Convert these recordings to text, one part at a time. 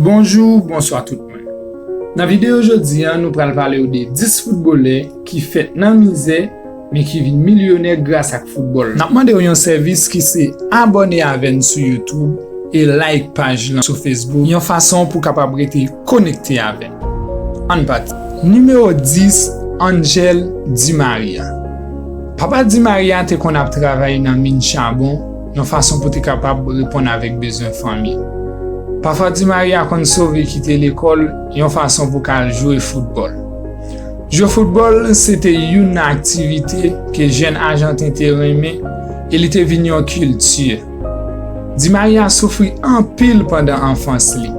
Bonjou, bonswa tout moun. Nan videyo jodi an nou pral pale w de 10 foutbolè ki fèt nan mizè men ki vin milyonè gras ak foutbòl. Nap mande w yon sèvis ki se abòne avè n sou youtube e like paj lan sou facebook yon fason pou kapab rete konekte avè n. Ann pati. Nimewo 10, Angel Di Maria Papa Di Maria te konn ap travay nan min chabon, yon fason pou te kapab reponn avèk bezwen fanmi. Pafwa ti Maria konn sove kite lekòl yon fason pou ka al jwe foutbòl. Jwe foutbòl se te youn nan aktivite ke jèn ajanten te renmen e li te vin yon kilti. Di Maria soufri anpil pandan anfans li.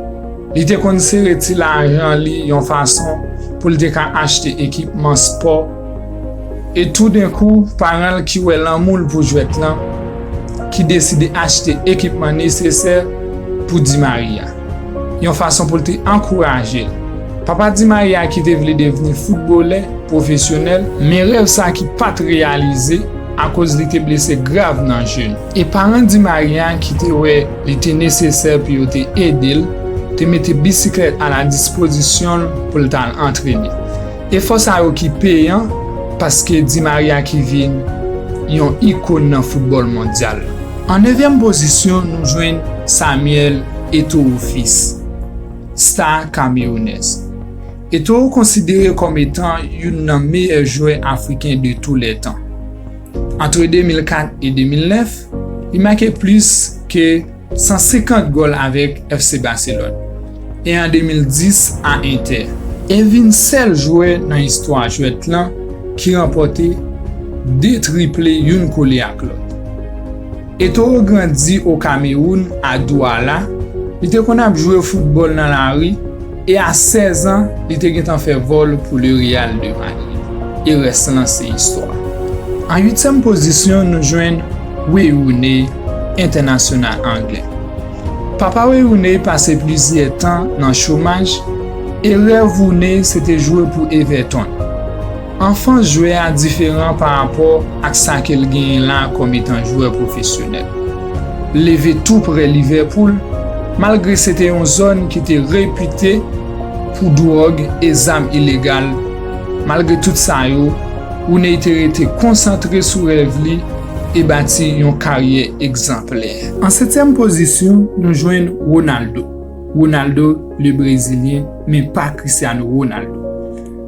Li te konn sere ti lajan li yon fason pou l te ka achte ekipman spò, E toudenkou, paran l ki wè lanmou l pou jwèt lan, ki deside achte ekipman nesesè pou Di Maria, yon fason pou l te ankouraje l. Papa Di Maria ki te vle devni foutbolè pwofesyonèl, men rèv sa ki pa t reyalize akoz li te blese grav nan je l, e paran Di Maria ki te wè li te nesesè pou yo te ede l, te mete bisiklèt a la dispozisyon l pou l t al antrene. Efò sa yo ki peyan paske Di Maria ki vin yon ikon nan foutbòl mondyal. An nevyèm pozisyon nou jwenn Samuel Eto'o Fils, sta kamewounèz. Eto'o konsidere kòm etan youn nan meyè jwè afriken de tou lè tan. Antre 2004 e 2009, li make plis ke. 150 gòl avèk FC Barcelone e an 2010 a Inter. E vin sèl jwè nan istwa jwèt lan ki ranpòte 2 triple youn kole ak lòt. Eto'o grandi o Kameroun, a Douala, li te konn ap jwe foutbòl nan lari, E a 16 an, li te gentan fè gòl pou Le Real de Madrid. E rès lan se istwa. An uityèm pozisyon nou jwenn Wayne Rooney, entènasyonal anglè. Papa Wayne Rooney pase plizyè tan nan chomaj e rèv Rooney se te jwe pou Everton. Anfans jwè a diferan pa rapò ak sa ke l genyen la kòm etan jwè pwofesyonèl. L leve tou prè Livèpoul, malgre se te yon zòn ki te repite pou dwòg e zam ilegal. Malgre tout sa yo, Rooney te rete konsantre sou rèv li e bati yon karyè egzanplè. An setyèm pozisyon, nou jwenn Ronaldo, Ronaldo le Brezilyen, men pa Cristiano Ronaldo.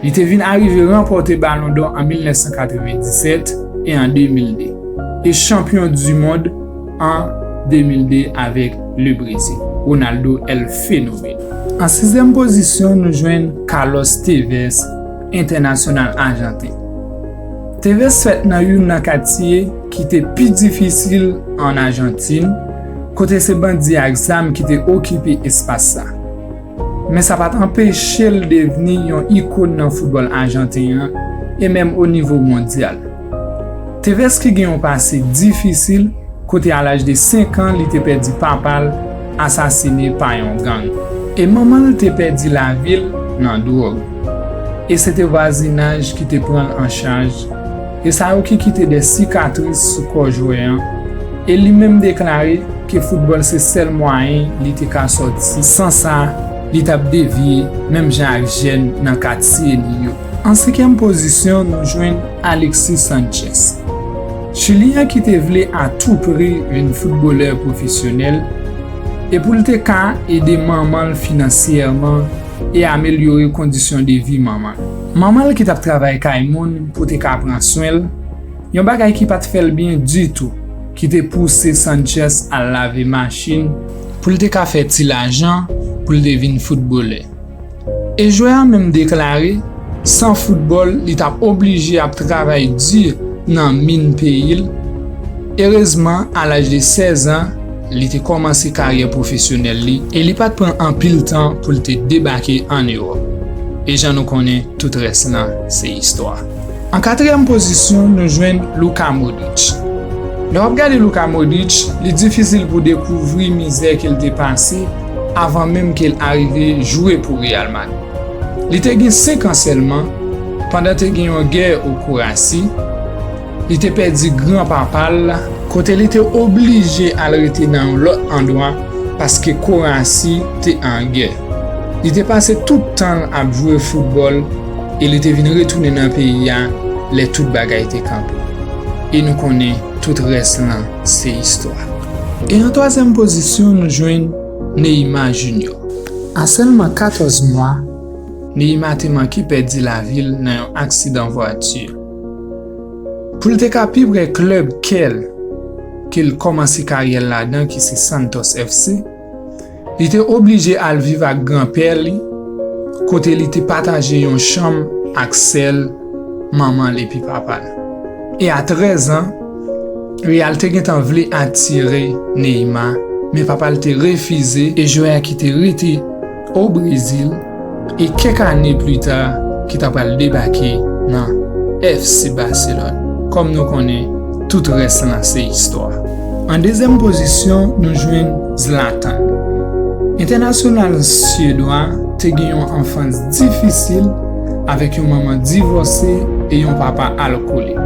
Li te vin arive ranpòte Balon dò an 1997 e an 2002, e chanpyon du mond an 2002 avèk Le Brezil, Ronaldo El Fenomeno. An sizyèm pozisyon nou jwenn Carlos Tevez, entènasyonal ajanten. Tevez fèt nan youn nan katye ki te pi difisil an Ajantin, kote se bandi ak zam ki te okipe espas sa. Men sa pa t anpeche l devni yon ikon nan foutbòl ajanten an e menm o nivo mondyal. Tevez ki gen yon pase difisil kote a laj de 5 an li te pèdi papa l asasine pa yon gang e manman l te pèdi lavi l nan dwòg e se te vwazinaj ki te pran l an chaj, E sa yo ki kite dè sikatris sou kò jwè an. E li menm deklare ke foutbòl se sèl mwayen li te ka sòti. San sa, li t ap devye menm jan ak jèn nan katye li yo. An senkyèm pozisyon nou jwenn Alexis Sanchez. Chilyen an ki te vle a tou pri vin foutbolè pwofesyonèl e pou l te ka ede manman l finansyèman e amelyore kondisyon de vi manman l. Manman l ki t ap travay kay moun pou te ka pran swen l, yon bagay ki pa t fè l byen ditou, ki te pouse Sánchez al lave machin pou l te ka fè ti lajan pou l te vin foutbolè. E jwè a menm deklare san foutbòl li t ap oblije ap travay di nan min peyi l, erezman a laj de 16 an, Li te kòmanse karyè pwofesyonèl li e li pa t pran anpil tan pou l te debake ann Ewòp. E jan nou konnen, tout rès la se istwa. An katriyèm pozisyon, nou jwenn Luka Modric. Lè w ap gade Luka Modric, li difisil pou w dekouvri mizè ke l te pase avan menm ke l arive jwe pou Real Madrid. Li te gen 5 an sèlman, pandan te gen yon gè o Kurasi, Li te pèdi gran papa l, kote li te oblije al rete nan yon lòt andwa paske Korasi te an gè. Li te pase tout tan l ap jwe foutbòl e li te vin retounen nan peyi a lè tout bagay te kanpe. E nou konnen tout rès lan se istwa. E an twazyèm pozisyon nou jwenn Neyima Jinyò. A sèlman 14 mwa, Neyima te manke pèdi lavi l nan yon aksidan vwati. Pou l te ka pi pre klèb kè l ke l kòmanse karyè l ladan ki se Santos FC, li te oblije al viv ak granpè li kote li te pataje yon chanm ak sè l, manman l epi papa l. E a 13 an, Real te gentan vle atire Neymar men papa l te refize e jwè a ki te rete. O Brezil e kèk ane plita ki ta pral debake nan FC Barcelone. Kòm nou konnen, tout rès lan se istwa. An dezyèm pozisyon nou jwenn Zlatan. Entènasyonal Syedwa te gen yon anfans difisil avèk yon manman divòse e yon papa alkolik.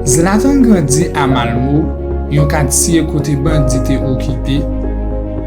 Zlatan grandi a Malmo, yon katye kote bandi te okipe,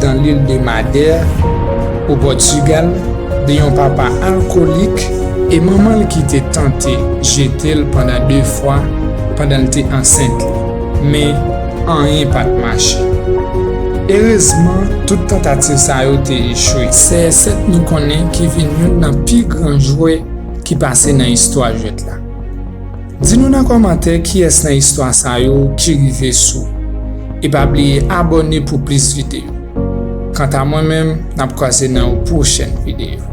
dans l'île de Madère, au Portugal, de yon papa alkolik e manman l ki te tante jete l pandan de fwa pandan l te ansent li. Men, anyen pa t mache. Erezman, tout tantativ sa yo te echwe. CR7 nou konnen ki vin youn nan pi gran jwè ki pase nan istwa jwèt la. Di nou nan kòmantè kiyès nan istwa sa yo ki rive sou ou. E pa bliye abòne pou plis videyo. Kanta mwen menm, n ap kwaze nan yon pwochèn videyo.